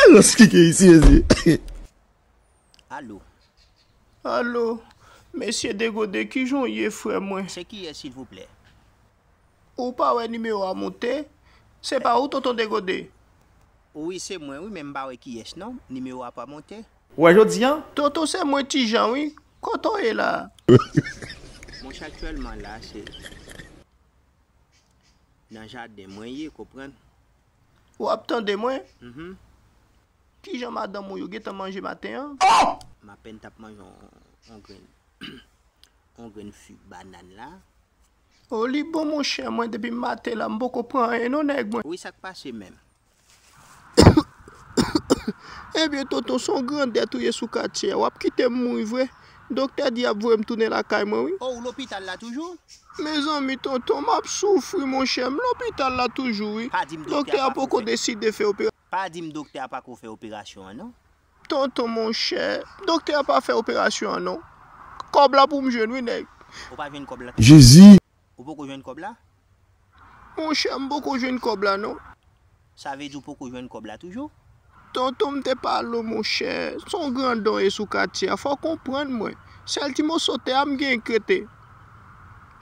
Mwen rans kike isi mezi. Allo Allo Mesye Degode kijan w ye frè mwen? Se kiyès silvouplè? Ou pa wè nimewo a moute? Se pa ou Tonton Degode? Wi se mwen wi men m pa wè kiyès non, nimewo a pa moute. Wè jodi an? Tonton se mwen Ti Jan wi, kote w ye la a? Monchè aktyèlman la se. Nan jaden mwen ye konprann. Ou ap tande mwen? Uhmm. Kijan madanm ou yo gentan manje maten an? Ohh! M apèn tap manje yon grenn yon grenn fig banann la. Oh li bon monchè mwen depi maten la m poko pran anyen non nèg mwen. Wi sak pase menm? Ebyen tonton son grandèt ou ye sou katye a wap kitem mouri vre doktè di yap voyem tounen lakay mwen wi. Oh ou lopital la toujou? Mezanmi tonton map soufri monchè m lopital la toujou wi Pa dim doktè a doktè a pako poko fè deside fè operasyon. Pa dim doktè a pako fè operasyon an non. Tonton monchè doktè a pa fè operasyon an non kòb la poum jwenn wi nèg. Ou pa jwenn kòb la tonton. Jezi Ou poko jwenn kòb la? Mon chè, m poko jwenn kòb la non. Sa vle di ou poko jwenn kòb la toujou? Tonton m te pale w mon chè, s on grandon e sou katye a, fò w konprann mwen. Sèl ti moso tè a m genyen k rete.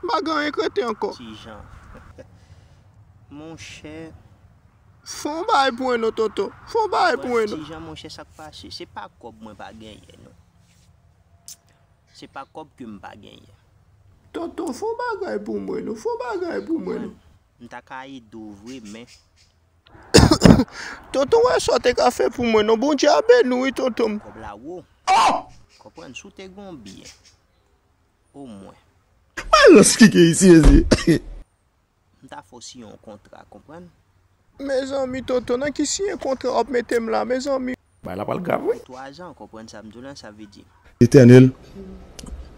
M pa gen anyen k rete ankò. Ti Jan, Mon chè. Fò w bay pou mwen non tonton, fò w bay pou mwen non. Ti Jan, Mon chè sa k pase? Se pa kòb mwen pa genyen non. Se pa kòb ke m pa genyen. Tonton fon bagay pou mwen non. Fon bagay pou mwen non. M ta ka ede w vre men. Tonton wè sa w te ka fè pou mwen non. Bondye a beni w wi tonton m. Kòb la wo. Konprann si w te gen yon byen omwen. Malans ki gen isi mezye. M ta fè w siyen yon kontra konprann. Mezanmi Toto nan ki siyen kontra wap metem la mezanmi. Bagay la pral grav wi. Pou 3 zan konprann sam diw lan sa vle di. Eternel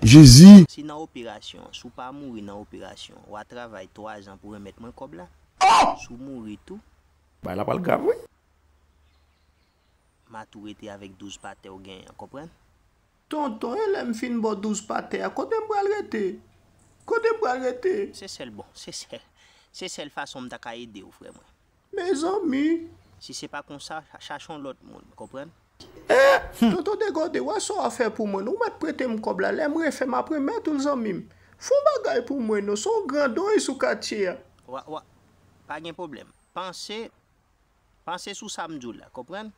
jezi. Si nan operasyon an si w pa mouri nan operasyon an wa travay 3 zan pou remet mwen kob la si w mouri tou. Bagay la pral grav wi. Ma tou rete avek 12 patè w genyen an konprann. Tonton e lèm fin bo 12 pa tè a kotem pral rete? Kotem pral rete? Se sèl bon se sèl se sèl fason mta ka edew frè mwen. Mezanmi! Si se pa konsa chache yon lòt moun konprann. Eh! Tonton Degode wè sa wap fè pou mwen non ou mèt pretem kòb la lèm refè map remèt oul zanmim fon bagay pou mwen non son grandonye sou katye a. Wa wa pa gen pwoblèm panse panse sou sam diw la konprann.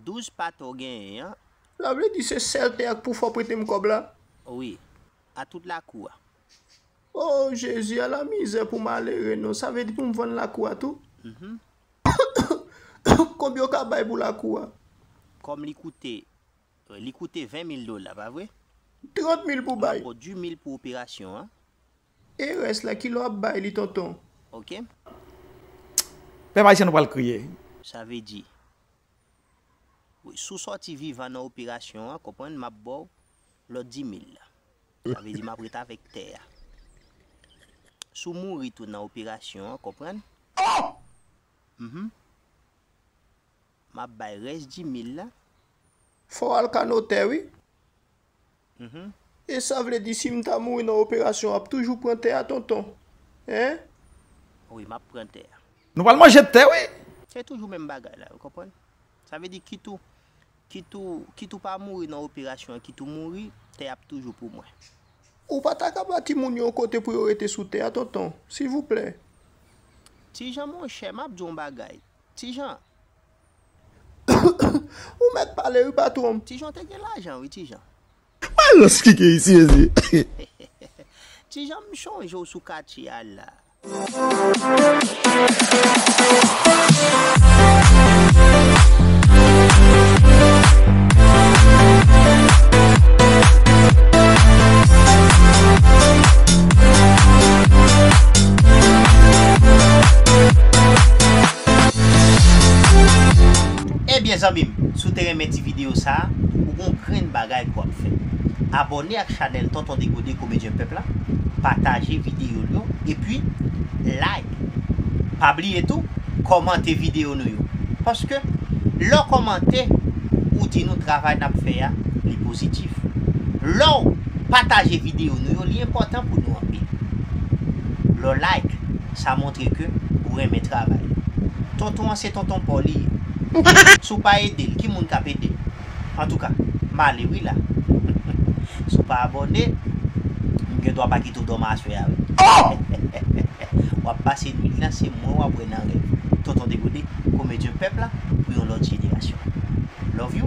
12 pate w genyen an. Sa vle di se sèl tè a k pou fè w prete m kòb la? Wi. A tout lakou a. O Jezi, ala mizè pou malere non! Sa vle di pou m vann lakou a tou? Konbyen w ka bay pou lakou a? Kòm li koute, li koute 20 mil dola, pa vre? 30 mil pou bay. Map ba w 2 mil pou operasyon an. E rès la kilè wap bay li tonton. Ok. Pèp ayisyen nou pral kriye. Sa vle di. Wi si w sòti vivan nan operasyon an konprann map ba w lòt dimil la. Sa vle di map ret avèk tè a. Si w mouri tou nan operasyon an konprann. Ohh! Mph. Map bay rès dimil la. Fò w al ka notè wi. E sa vle di si m ta mouri nan operasyon w ap toujou pran tè a tonton? Hein? Wi m ap pran tè a. Nou pral manje tè wi! Se toujou menm bagay la ou konprann? Sa vle di kit ou kit ou kit ou pa mouri nan operasyon an kit ou mouri, tè a ap toujou pou mwen. Ou pa ta ka ba timoun yo yon kote pou yo rete sou tè a tonton? Silvouplè. Ti Jan monchè m ap di w yon bagay, Ti Jan, Ou mèt pale wi patwon m. Ti Jan, Te gen lajan wi ti Jan. Malòs ki gen isi mezi. Ti Jan, M chonje w sou katye a la. Ebyen zanmi m si w te renmen ti video sa ou gon grenn bagay pou w ap fè abòne ak chanèl tonton degode komedyen pèp la pataje video l yo epi like pa bliye tou kòmante video nou yo paske lè w kòmante ou di nou travay n ap fè a li pozitif lè w pataje video nou yo li enpòtan pou nou anpil. Lè w like, sa montre ke ou renmen travay. Tonton an se tonton paw li ye. Si w pa ede l, ki moun k ap ede l? Antouka, m ale wi la. Si w pa abòne, m gen dwa pa kite w dòmi aswè a wi. W ap pase nwit lan, se mwen w ap wè nan rèv. Tonton Degode, komedyen pèp la pou yon lòt jenerasyon. Love you!